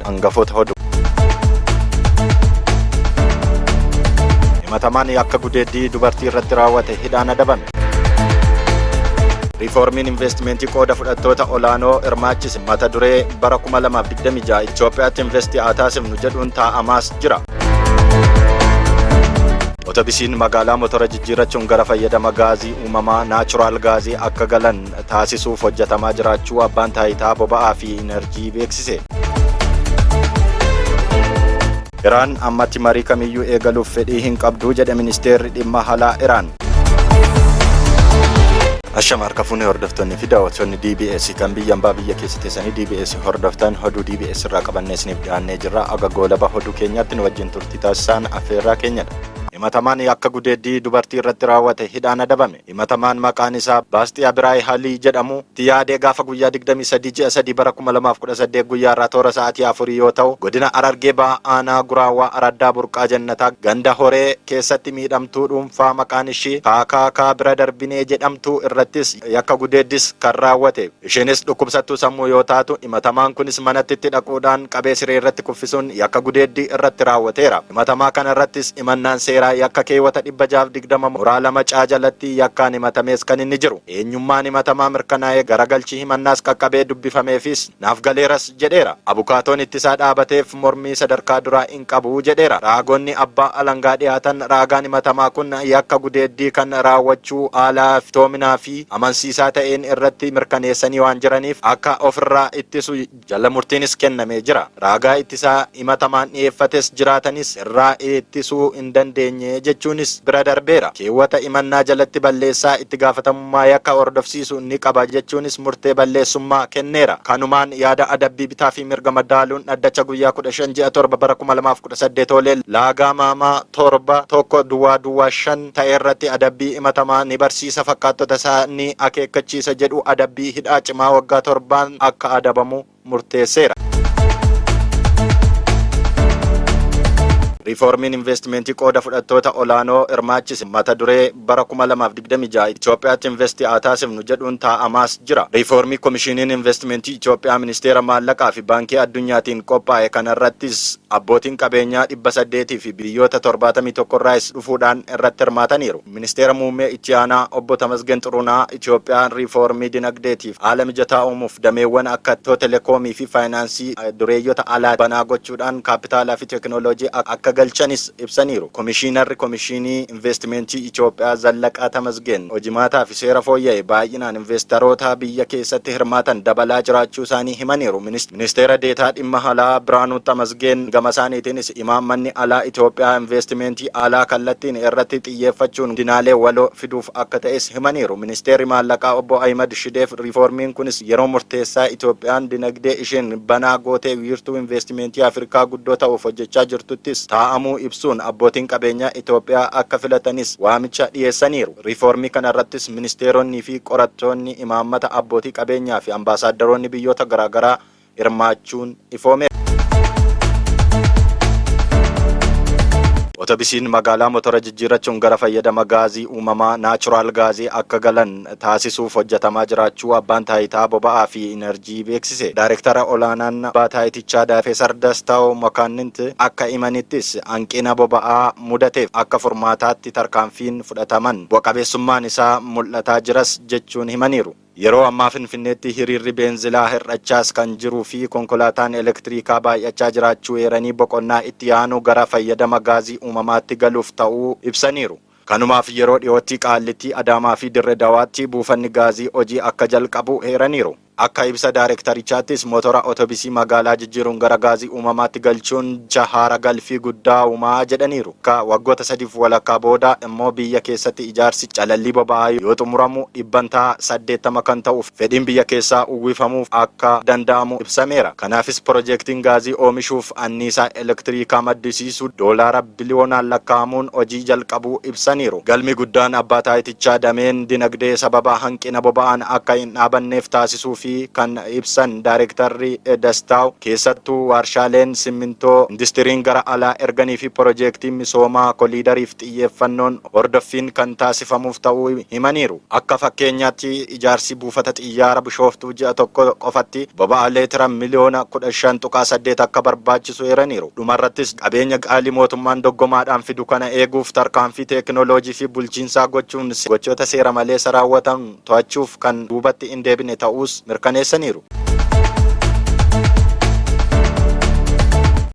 hangafoota hodhu. himatamaan akka gudeeddii dubartii irratti raawwate hidhaan adabame. Riifoormiin investimentii qooda fudhattoota olaanoo hirmaachise mata duree bara 2026 Itoophiyaatti investii haa taasifnu jedhuun taa'amaas jira. Otobisiin magaalaa motora jijjiirrachuun gara fayyadama gaazii uumamaa naachuraal gaazii akka galan taasisuuf hojjetamaa jiraachuu abbaan taayitaa boba'aa fi inarjii beeksise. Iraan ammatti marii kamiyyuu eegaluuf fedhii hin qabdu jedhe ministeerri dhimma alaa Iraan. Ashama harka fuunee hordoftoonni fi daawwattoonni DBS kan biyya ambaa biyya keessa teessanii DBS hordoftan hoduu DBS irraa qabannee isiniif dhiyaannee jirra. Aga goolaba hoduu keenyaatti nu wajjin turtii taasisaan affeerraa keenyadha. Himatamaan akka gudeeddii dubartii irratti raawwate hidhaan adabame. Himatamaan maqaan isaa Baastiyaa Biraay Halii jedhamu itti yaadee gaafa guyyaa 23 ji'a 3 bara 2018 guyyaa irraa toora sa'aatii 4 yoo ta'u godina Harargee Bahaa aanaa Guraawaa araddaa Burqaa Jannataa ganda Horee keessatti miidhamtuu dhuunfaa maqaan ishii Kaakaakaa Bira Darbinee jedhamtu irrattis yakka gudeeddis kan raawwate. Ishiinis dhukkubsattuu sammuu yoo taatu, himatamaan kunis manatti itti dhaquudhaan qabee siree irratti kuffisuun yakka gudeeddii irratti raawwateera. Himatamaa kana irrattis himannaan seeraa yakka keewwata 620 muraa 2 C jalatti yakkaan himatamees kan inni jiru. Eenyummaan himatamaa mirkanaa'ee garagalchi himannaas qaqqabee dubbifameefiis naaf galeeras jedheera. Abukaatoon ittisaa dhaabateef. mormii sadarkaa duraa hin qabu jedheera. Raagonni abbaa alangaa dhiyaatan raagaan himatamaa kun yakka gudeeddii kan raawwachuu haala iftoominaa fi amansiisaa ta'een irratti mirkaneessanii waan jiraniif akka of irraa ittisu jala murtiinis kennamee jira. Raagaa ittisaa himatamaan dhiyeeffates jiraatanis irraa ittisuu hin dandeenye jechuunis bira darbeera. Keewwata himannaa jalatti balleessaa itti gaafatamummaa. olaantummaa yakka hordofsiisu ni qaba jechuunis murtee balleessummaa kenneera. Kanumaan yaada adabbii bitaa fi mirga madaaluun dhaddacha guyyaa 15 ji'a 7 bara 2018 oole laagaa maamaa 7, 1, duwwaa duwwaa 5, ta'e irratti adabbii himatamaa ni barsiisa fakkaattota isaa ni akeekkachiisa jedhu adabbii hidhaa cimaa waggaa 7n akka adabamu murteesseera. Riifoormiin investimentii qooda fudhattoota olaanoo hirmaachise mata duree bara 2026 Itoophiyaatti investi haa taasifnu jedhuun taa'amaas jira. Riifoormii Komishiiniin Investimentii Itoophiyaa Ministeera Maallaqaa fi Baankii Addunyaatiin qophaa'e kanarrattis abbootiin qabeenyaa 800 fi biyyoota 71 irraayis dhufuudhaan irratti hirmaataniiru. Ministeera Muummee Itti Aanaa Obbo Tamasgen Xurunaa Itiyoophiyaan riifoormii dinagdeetiif haala mijataa uumuuf dameewwan akka Itiyoo-telekoomii fi faayinaansii dureeyyota alaa banaa gochuudhaan kaappitaalaa fi teekinooloojii akka galchanis ibsaniiru. Komishiinarri Komishiinii Inveestimeentii Itiyoophiyaa Zallaqaa Tamasgeen, hojimaataa fi seera fooyya'e baay'inaan inveestarootaa biyya keessatti hirmaatan dabalaa jiraachuusaanii himaniiru. Ministeera Deetaa Dhimma Alaa Birhaanuu Tamasgeen gamasaaniitiinis, imaammanni alaa Itoophiyaa inveestimeentii alaa kallattiin irratti xiyyeeffachuun guddinaalee waloo fiduuf akka ta'es himaniiru. Ministeerri Maallaqaa Obbo Ahimad Shideef riifoormiin kunis yeroo murteessaa Itoophiyaan dinagdee isheen banaa gootee wiirtuu inveestimeentii Afrikaa guddoo ta'uuf hojjechaa jirtuttis taa'amuu ibsuun abbootiin qabeenyaa Itoophiyaa akka filatanis waamicha dhiyeessaniiru. Riifoormii kanarrattis ministeeronnii fi qorattoonni imaammata, abbootii qabeenyaa fi ambaasaaddaroonni biyyoota garaagaraa hirmaachuun ifoomeera. Otobisiin magaalaa motora jijjiirrachuun gara fayyadama gaazii uumamaa, natural gas, akka galan taasisuuf hojjetamaa jiraachuu Abbaan Taayitaa Boba'aa fi Inarjii beeksise. Daarektara Olaanaan Abbaa Taayitichaa Daafesar Dastaw Makaannint akka imanittis hanqina boba'aa mudateef akka furmaataatti tarkaanfiin fudhataman bu'a qabeessummaan isaa mul'ataa jiras jechuun himaniiru. Yeroo ammaa Finfinneetti hiriirri beenzilaa hir'achaas kan jiru fi konkolaataan elektiriikaa baay'achaa jiraachuu eeranii boqonnaa itti aanu gara fayyadama gaazii uumamaatti galuuf ta'uu ibsaniiru. Kanumaaf yeroo dhiyootti Qaallittii, Adaamaa fi Dirre Dawaatti buufanni gaazii hojii akka jalqabu eeraniiru. Akka ibsa daarektarichaattis motora otobisii magaalaa jijjiiruun gara gaazii uumamaatti galchuun dcha haara galfii guddaa uuma jedhaniiru. Ka waggoota sadiif walakkaa booda immoo biyya keessatti ijaarsi calallii boba'aa yoo xumuramu dhibbantaa 80 kan ta'u fedhiin biyya keessaa uwwifamuuf akka danda'amu ibsameera. Kanaafis pirojektiin gaazii oomishuuf anniisaa elektiriikaa maddisiisu doolaara biliyoonaan lakkaa'amuun hojii jalqabuu ibsaniiru. Galmi guddaan Abbaa Taayitichaas. Naannicha dameen dinagdee sababa hanqina boba'aan akka hin dhaabanneef taasisuu fi kan ibsan Daarektarri Dastaaw, keessattuu waarshaaleen simmintoo industiriin gara alaa erganii fi porojeektiin misoomaa koliidariif xiyyeeffannoon hordoffiin kan taasifamuuf ta'uu himaniiru. Akka fakkeenyaatti Ijaarsi buufata xiyyaara Bishooftuu ji'a tokko qofatti boba'aa leetira miliyoona 15.8 akka barbaachisu eeraniiru. Dhumarrattis, qabeenya qaalii mootummaan doggomaadhaan fidu kana eeguuf tarkaanfii teekinooloojii fi bulchiinsaa gochuun gochoota seera maleessa raawwatamu to'achuuf kan duubatti hin deebine ta'uus mirkaneessaniiru.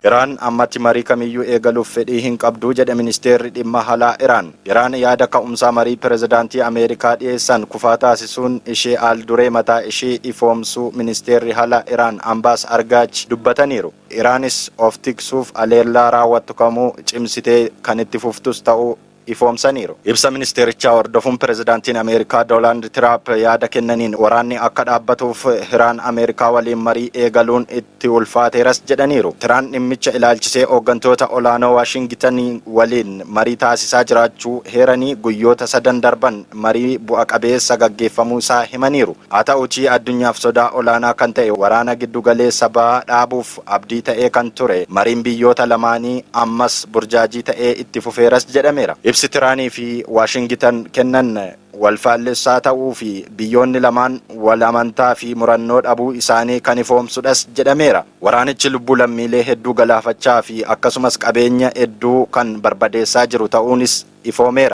Iraan ammatti marii kamiyyuu eegaluuf fedhii hin qabdu jedhe Ministeerri Dhimma Alaa Iraan. Iraan yaada ka'umsaa marii pirezidaantii Ameerikaa dhiyeessan kufaa taasisuun ishee aal-duree mataa ishii ifoomsuu ministeerri halaa Iraan Ambaas Argaach dubbataniiru. Iraanis of tiksuuf aleellaa raawwattu kamuu cimsitee kan itti fuftus ta'uu ifoomsaniiru. Ibsa ministeerichaa hordofuun pirezidaantiin Ameerikaa Dolaand Tiraap yaada kennaniin waraanni akka dhaabbatuuf Iraan Ameerikaa waliin marii eegaluun itti ulfaateeras jedhaniiru. Tiraan dhimmicha ilaalchisee hooggantoota olaanoo Waashingitan waliin marii taasisaa jiraachuu heeranii guyyoota sadan darban marii bu'a qabeessa gaggeeffamuu isaa himaniiru. Haa ta'uutii addunyaaf sodaa olaanaa kan ta'e waraana giddu galeessa bahaa dhaabuuf abdii ta'ee kan ture mariin biyyoota lamaanii ammas burjaajii ta'ee itti fufeeras jedhameera. Ibsi Tiraanii fi Waashingitan kennan wal faallessaa ta'uu fi biyyoonni lamaan wal amantaa fi murannoo dhabuu isaanii kan ifoomsudhas jedhameera. Waraanichi lubbuu lammiilee hedduu galaafachaa fi akkasumas qabeenya hedduu kan barbadeessaa jiru ta'uunis ifoomeera.